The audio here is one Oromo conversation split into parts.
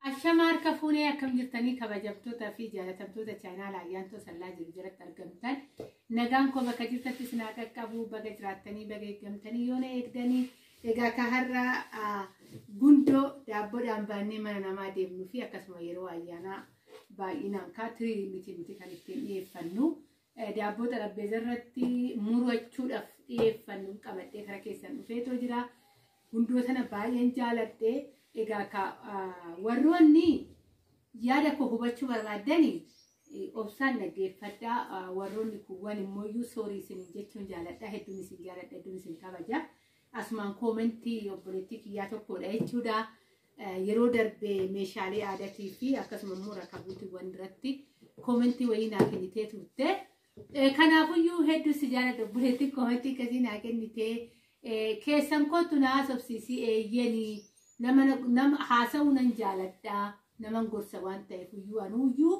Ashama harka fuunee akkam jirtanii kabajamtoota fi jaalatamtoota chaanaala ayyaantoo sallaa jiru jalatti argamtan nagaan koo bakka jirtatti isin haa qaqqabu baga jiraattanii baga eeggamtanii yoo na eegdanii egaa ka har'a ah, gundoo daabboodhaan baannee mana namaa deemnuu fi akkasuma yeroo ayyaanaa baay'inaan kaa tirii miti nuti kan ittiin dhiyeeffannu Daabboo xarapheeza irratti murachuudhaaf dhiyeeffannu qabadhee kara keessan dhufeetoo jira. Gundoo sana baay'een jaaladhe. Egaa ka warroonni yaada koo hubachuu barbaaddani obsaan dhaggeeffadhaa. Warroonni kuuwwan immoo iyyuu soorii isin jechuun jaaladha. Hedduun isin jaaladha, hedduun isin kabaja. Asumaan koomentii obboleettii kiyyaa tokkodha jechuudha. Yeroo darbe meeshaalee aadatii fi akkasuma immoo rakabuutiiwwan irratti koomentii wayii naa kennitee turte. Kanaafuyyuu hedduu si jaalladha obboleettiin koomentii akkasii naa kennitee keessan kootu na haasofsiisi eeyyeni nama haasa'uu nan jaaladha naman gorsa waan ta'eef iyyuu anuuyyuu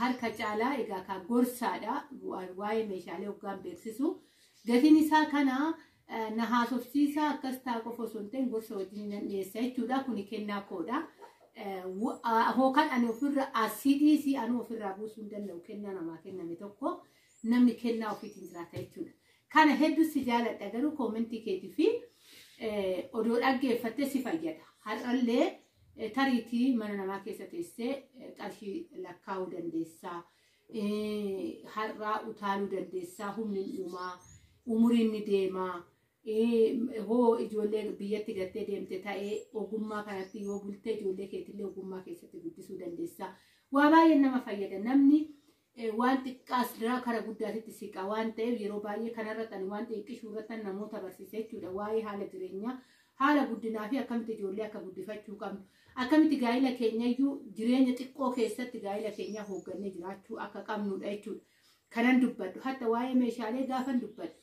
Harka caalaa egaa kaa gorsaadha waa'ee meeshaalee hoggaan beeksisu gatiin isaa kana na haasofsiisa akkas taa qofa osoo hin ta'in gorsa wajjin nan dhiyeessa jechuudha kuni kennaa koodha. Hookan ani ofirra asii dhiisii anu ofirraa buusuu hin danda'u kennaa namaa kenname tokko namni kennaa ofiitiin jiraata jechuudha. Kana hedduu si jaaladha garuu koomentii keetii fi odoo dhaggeeffattee si fayyada. Har'allee Tariitii mana namaa keessa teessee qarshii lakkaa'uu dandeessaa. Har'aa utaaluu dandeessaa humni uumaa umuriin ni deemaa. Hoo ijoollee biyyatti gattee deemte ta'ee ogummaa kanatti yoo bultee ijoollee keetillee ogummaa keessatti guddisuu dandeessaa. Waa baay'een nama fayyada namni Eh, waan xiqqaas diraa kara guddaatitti siqa waan ta'eef yeroo baay'ee kanarratti ani waan xiqqishuu irratti namoota barsiise jechuudha waa'ee haala jireenyaa haala guddinaa fi akkamitti ijoollee akka guddifachuu qabnu akkamitti gaa'ila keenyayyuu jireenya xiqqoo keessatti gaa'ila keenyaa hooggannee jiraachuu akka qabnudha jechuudha kanan dubbadhu hatta waa'ee meeshaalee gaafan dubbadhu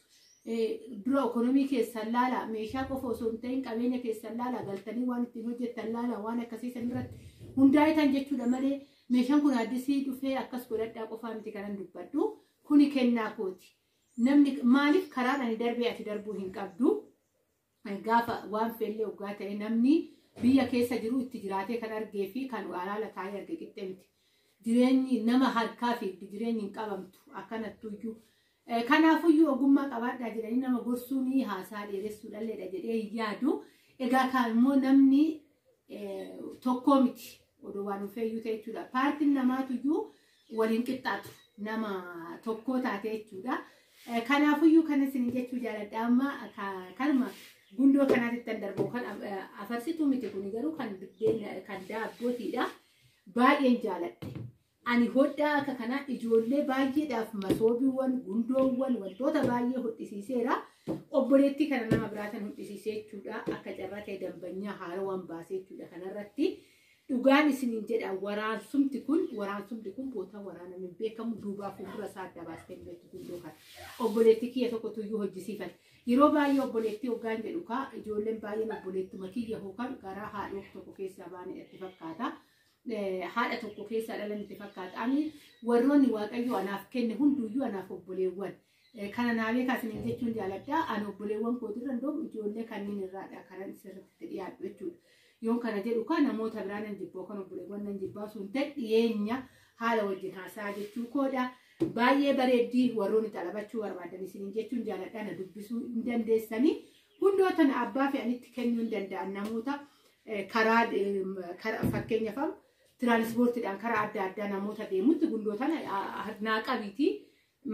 Eh, dura ekonomii keessan laala meeshaa qofa osoo hin ta'in qabeenya keessan laala galtanii waan ittiin hojjettan laala waan akkasii san irratti hundaa'etan jechuudha malee Meeshaan kun addisii dhufee akkas godhadhaa qofaa miti kanan dubbadhu. Kuni kennaa kooti. Namni maaliif karaan ani darbee ati darbuu hin qabdu. Gaafa waan feellee oggaa ta'e namni biyya keessa jiru itti jiraatee kan argee fi kan alaala taa'ee arge qixxee miti. Jireenyi nama harkaa fiigdi jireenyi hin qabamtu akkanattuyyuu. Kanaafuyyuu ogummaa qabaadhaa jedhanii nama gorsuun haasaa dheeressuu dhalleedha jedhee hin yaadu. Egaa kaa immoo namni tokkoo miti odoo waan hin feeyyuu ta'e jechuudha. Paartiin namaatuyyuu waliin qixxaatu nama tokkoo taate jechuudha. Kanaafuyyuu kan isin jechuu jaaladha amma kanuma gundoo kanaatti kan darbu kan afarsituu miti kun garuu kan biddeen kan daabbootiidha. Baay'een jaaladhe. Ani hodhaa akka kanaa ijoollee baay'eedhaaf masoobiiwwan, gundoowwan, wantoota baay'ee hodhisiiseera. Obboleettii kana nama biraatan hodhisiisee jechuudha. Akka carraa ta'e dambanyaa haarawaan baasee jechuudha kanarratti. Dhugaan isiniin jedha waraansumti kun waraansumti kun bootaa waraana hin beekamu duubaa fuuldura isaa adda baastee hin beektu gundoo kana. Obboleettii kiyya tokko tuyyuu hojjisiifate. Yeroo baay'ee obboleettii hoggaan jedhu kaa ijoolleen baay'een obboleettuma kiyya hookan garaa haadhoo tokko keessaa baane itti fakkaata. eh, haadha tokko keessaa dhalan itti fakkaata. Ani warroonni Waaqayyo anaaf kenne hunduyyuu anaaf obboleewwan. Eh, Kana naa beekaa isiniin jechuun jaaladha. Ani obboleewwan kootirra iddoo ijoollee kanneen irraadha kanan sirriitti dhiyaadhu jechuudha. Yoon kana jedhu kaa namoota biraa nan jibba yookaan obboleewwan nan jibbaa osoo hin ta'in dhiyeenya haala wajjin haasaa jechuu koodha. Baay'ee bareeddii warroonni xalabachuu barbaadan isiniin jechuun jaaladha na dubbisuu hin dandeessanii. Hundoota na abbaa fe'anitti kennuu hin danda'an namoota karaa fakkeenyaaf amma tiraanispoortiidhaan karaa adda addaa namoota deemutti gundoo tana naa qabiitii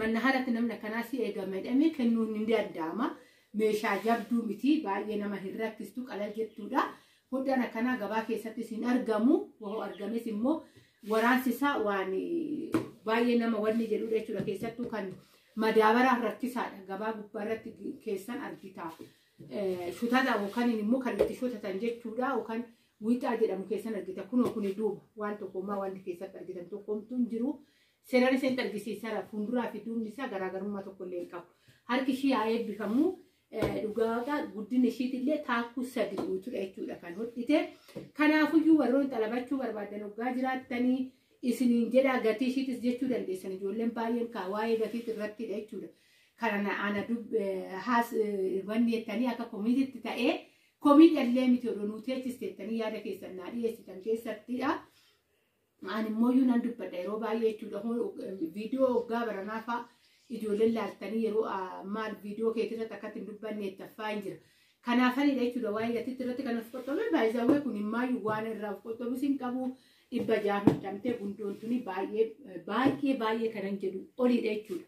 manna haaratti namni akkanaa si eegame jedhamee kennuun ni danda'ama. Meeshaa jabduu miti baay'ee nama hin rakkistu qalal jettuudha. Hundaan akkanaa gabaa keessattis hin argamu. Wahoo argames immoo waraansi isaa waan baay'ee nama wanni jedhudha jechuudha keessattuu kan madaabaraan rakkisaadha. Gabaa gubbaa irratti keessan argita. shutata yookaan immoo kan itti shutatan jechuudha yookaan wiixaa jedhamu keessan argita kunoo kuni duuba waan tokkummaa wanti keessatti argitan tokkomtuu hin jiru seeraan iseen argisiisara fuulduraa fi duubni isaa garaagarummaa tokko illee hin qabu harki ishii haa eebbifamu dhugaa guddina ishiitillee taakkuu sadi guutuudha jechuudha kan hodhite kanaafuyyuu warroon xalabachuu barbaadan hoggaa jiraattanii isiniin jedhaa gatii ishiitis jechuu dandeessan ijoolleen baay'een kaa waa'ee gatiis irrattidha jechuudha. kana na ana dub haas wanni jettanii akka komiititti ta'ee komii dhallee miti odoo nuu teechiste jettanii yaada keessan naa dhiyeessitan keessattidha. Ani immoo iyyuu nan dubbadha yeroo baay'ee jechuudha viidiyoo waggaa baranaa fa'a ijoolleen laaltanii yeroo maal viidiyoo keetirratti akkatti hin dubbanne itti affaa hin jira. Kanaafanidha jechuudha waa'ee gatiitti irratti kan of qottobee baay'isawwee kun himmaayyuu waan irraa of qottobus hin qabu. Dhibba jaaf hidhamtee gundoon tuni baay'ee baay'ee baay'ee kanan jedhu olidha jechuudha.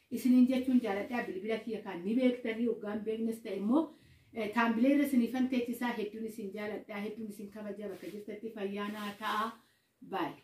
isiniin jechuun jaaladhaa bilbila kiyya kaan ni beektanii hoggaan beeknes ta'e immoo taambilee irra isiniifan teechisaa hedduun isin jaaladhaa hedduun isin kabaja bakka jirtatti fayyaanaa ta'a baay'ee.